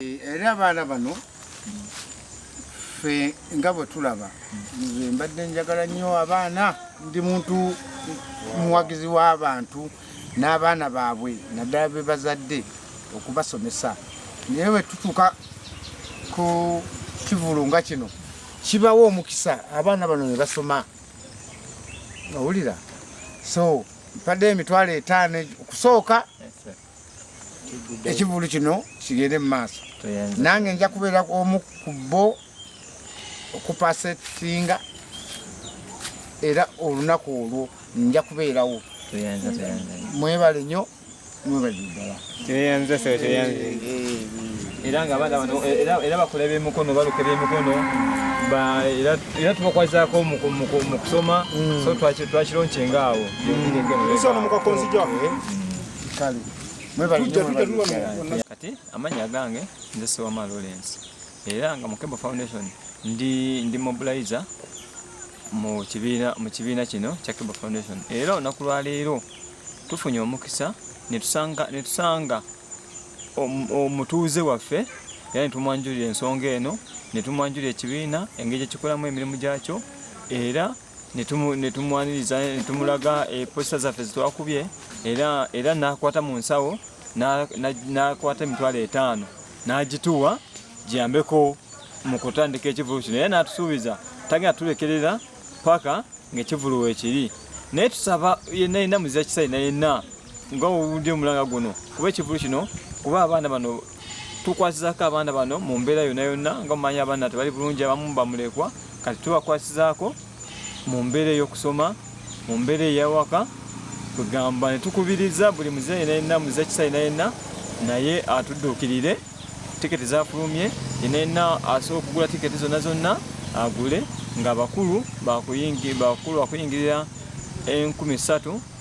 era abaana bano ffe nga bwe tulaba nze mbadde njagala nnyo abaana ndi muntu muwagizi w'abantu n'abaana baabwe naddala be bazadde okubasomesa naye bwe tutuuka ku kivulu nga kino kibawo omukisa abaana bano ne basoma owulira so mpadde emitwalo etaano okusooka yes, ekivulu kino kigende mu maaso nange nja kubeera omu ku bo okupasa ekisinga era olunaku olwo nja kubeerawo mwebale nyo mwebale ddala era nga abaana bano era bakola ebyemukono baluka ebyemukono era tubakwazako mukusoma mm. so twakironcenga awo kale kati amanya agange nze sewama lawrence era nga mukebo foundation ndi ndi mobilizer mu kibiina mu kibiina kino kya kebo foundation era olunaku lwaleero tufunye omukisa netusanga netusanga omutuuze waffe era netumwanjulira ensonga eno netumwanjulira ekibiina engeri gyekikolamu emirimu gyakyo era ne tumwaniriza ne tumulaga eposita eh, zaffe zetwakubye era nakwata mu nsawo nakwata emitwalo etaano n'agituwa giyambeko mu kutandika ekivulu kino era n'atusuubiza tagenda tulekerera paka ng'ekivulu wekiri naye tusaba yenna yenna muzira kisai nayenna nga owudde omulanga guno kuba ekivulu kino kuba abaana bano tukwasizaako abaana bano mu mbeera yonna yonna nga mumanyi abaana tebali bulungi abamu bamulekwa kati tubakwasizaako mu mbeera ey'okusoma mu mbeera ey'awaka kwegamba ne tukubiriza buli muze yena yenna muze kisa yena yenna naye atudduukirire tiketi zafulumye yena yenna asobola okugula tiketi zonna zonna agule ng'abakulu bakulu bakuyingirira enkumi ssatu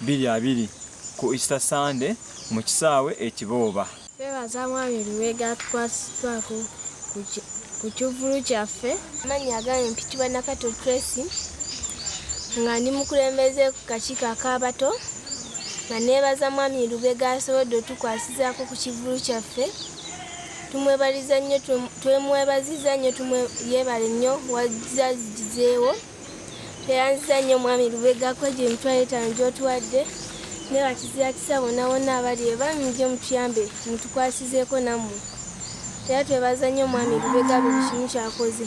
bbiri abiri ku Easter Sunday mu kisaawe e Kibooba. Twebaza Mwami Lubega atukwasiddwako ku kivvulu kyaffe. Amannya agange mpitibwa Nakato Tracy nga ndi mukulembeze ku kakiiko ak'abato nga neebaza Mwami Lubega asobodde otukwasizaako ku kivvulu kyaffe tumwebaliza nnyo twemwebaziza nnyo yeebale nnyo wazze azigizeewo. tweyanziza nnyo omwami lubega kwegyo emitwalo etaano gyotuwadde ne bakizira kisa bona bona abali ebami nje mutuyambe mutukwasizeeko nammwe era twebaza nnyo omwami lubega buli kimu kyakoze